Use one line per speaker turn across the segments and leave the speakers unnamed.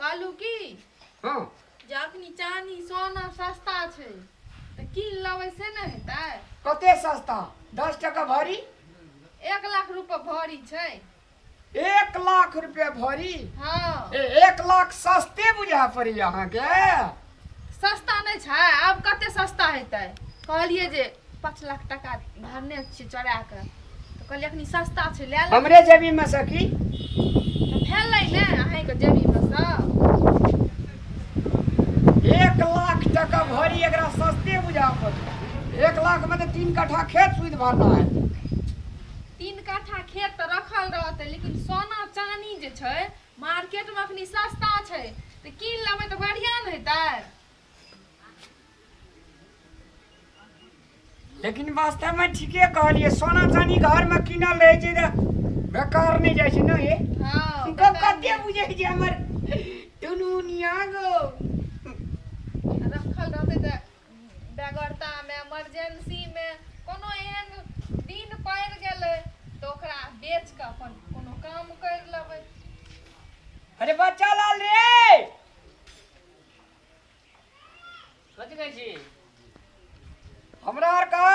कहलू की हँ
जे अखनी
चानी सोना सस्ता छै तऽ कीन लेबै से ने हेतै कते सस्ता
दस टका भरी एक
लाख रुपए भरी छै एक
लाख रुपया भरी हँ ए,
एक लाख
सस्ते बुझा पड़ी अहाँके सस्ता
नहि छै आब कते सस्ता हेतै कहलियै जे पाँच लाख टाका भरने छियै चोरा कऽ तऽ कहलियै एखनी सस्ता छै लए लेबै हमरे जेबी में सखी
तऽ
भेलै ने अहींके जेबीमे
सँ एक लाख टका भरी एकरा सस्ते बुझा पड़त एक लाख में तो तीन कट्ठा खेत सुध भरना है
तीन कट्ठा खेत तऽ रखल रहतै लेकिन सोना चानी जे छै मार्केट में अखनी सस्ता छै तऽ कीन लेबै तऽ बढ़िया ने हेतै
लेकिन वास्तव में ठीके कहलिए सोना चानी घर में किनल रहे छै तऽ बेकार नहीं जाए छै ना ये हां गप कते
बुझे
छै हमर दुनुनिया गो रखल
रहते तऽ बेगरतामे इमरजेन्सीमे कोनो एहन दिन पड़ि गेलै तऽ ओकरा बेच कऽ अपन कोनो काम करि लेबै
अरे बच्चा लाल रे कथी
कहै छी
हमरा आर कहा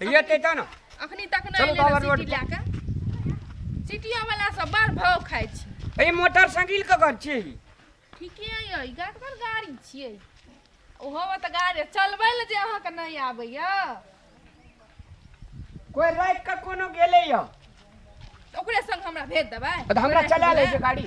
ये ते ता ना
अखनी तक चलू नहीं बाबा एलै रोड सिटी
पर। लए कऽ सिटियो वाला सब बड़ भाव खाइ छी ए मोटरसाइकिल के घर
छी ठीके
अइ गाड़बर गाड़ी छियै ओहो तऽ गाड़ी चलबै लए जे अहाँके नहि आबैया
कोई रात का कोनो गेले या तऽ ओकरे
संग हमरा भेज देबै तऽ हमरा चला ले छै
गाड़ी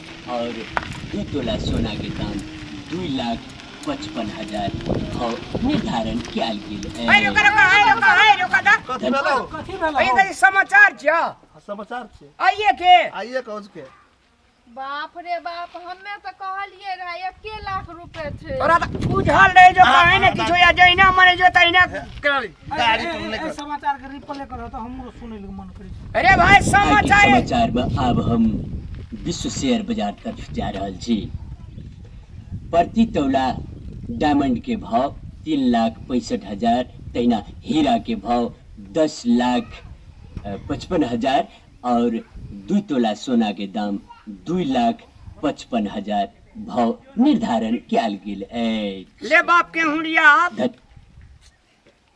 और ई तोला सोना के दाम दू लाख पचपन हजार भाव निर्धारण कयल गेल है है रोका रोका है रोका
है रोका दा कथी भेलौ कथी
भेल अरे दादी
समाचार
छ समाचार छै
आइए के आइए
कौज के
बाप
रे बाप हमे तो कहलिए रहा एके लाख रुपए थे तोरा त बुझल
रहे जो कहे ने किछो या जहिना मरे जो तहिना करी
गाड़ी पर नहीं कर समाचार के रिप्ले करो तो हमरो सुने ले मन करे अरे भाई
आइ के
समाचार समाचार
में आब
हम विश्व शेयर बाजार तरफ जा रहल छी प्रति तौला डायमंड के भाव तीन लाख पैंसठ हजार तहिना हीरा के भाव दस लाख अ, पचपन हजार और दू तोला सोना के दाम दू लाख पचपन हजार भाव निर्धारण कयल गेल अछि ले बाप के हुड़िया
धत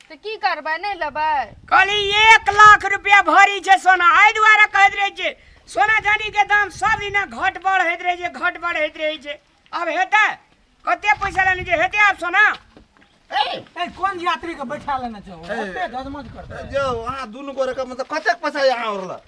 तऽ की करबै नहि लेबै कहली एक
लाख रुपया भरी छै सोना एहि दुआरे कहैत रहै छै सोना चानीके दाम सब दिना घट बढ़ होइत रहै छै घट बढ़ होइत रहै छै आब हेतै कते पैसा लेने छै हेतै आब सोना ए
कोन यात्री के बैठा लेने छौ ओते गजमज करते जो अहाँ दुनू गोरे
के मतलब कतेक पैसा यहाँ औरला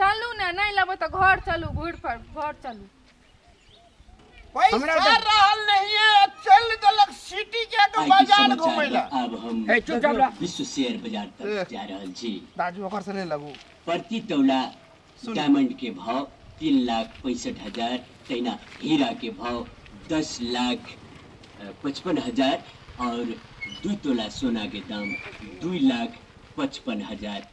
चलू ने नहि लेबै तऽ घर चलू घुर पर घर चलू हमरा पैसा
रहल नहीं है
चल देलक सिटी के तो आइ के बाजार समाचार घूमे
ला में
आब
हम हे
चुप
जाब ला विश्व
शेयर बाजार
तक जा रहल छी दाजू ओकर से ले लगू
प्रति तौला
डायमंड
के भाव
तीन लाख पैंसठ हजार तहिना हीरा के भाव दस लाख अ, पचपन हजार और दू तोला सोना के दाम दू लाख पचपन हजार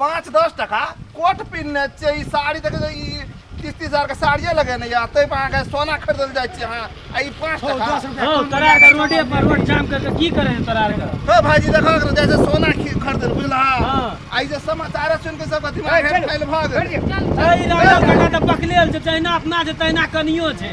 पाँच दस टका
कोट पिन्हने छियै ई साड़ी देखे छै, ई तीस तीस हजार के साड़िये लगेने यऽ ताहि पर अहाँके सोना खरीदल जाइ छियै अहाँ आ ई पाँच हौ, टका दस रुपया हौ, कम तोरा आरके
लगा, रोडे पर रोड जाम करके की करे हैं तोरा आरके हे भाईजी देखो एकरा
जैसे सोना खी- खरीदल बुझलहा हाँ। आ ई जे समाचार सुन के सबके दिमाग हेल फैल भऽ गेल चल, चल। अरे राजा
बेटा तऽ पकड़े छै तहिना अपना छै तहिना कनियो छै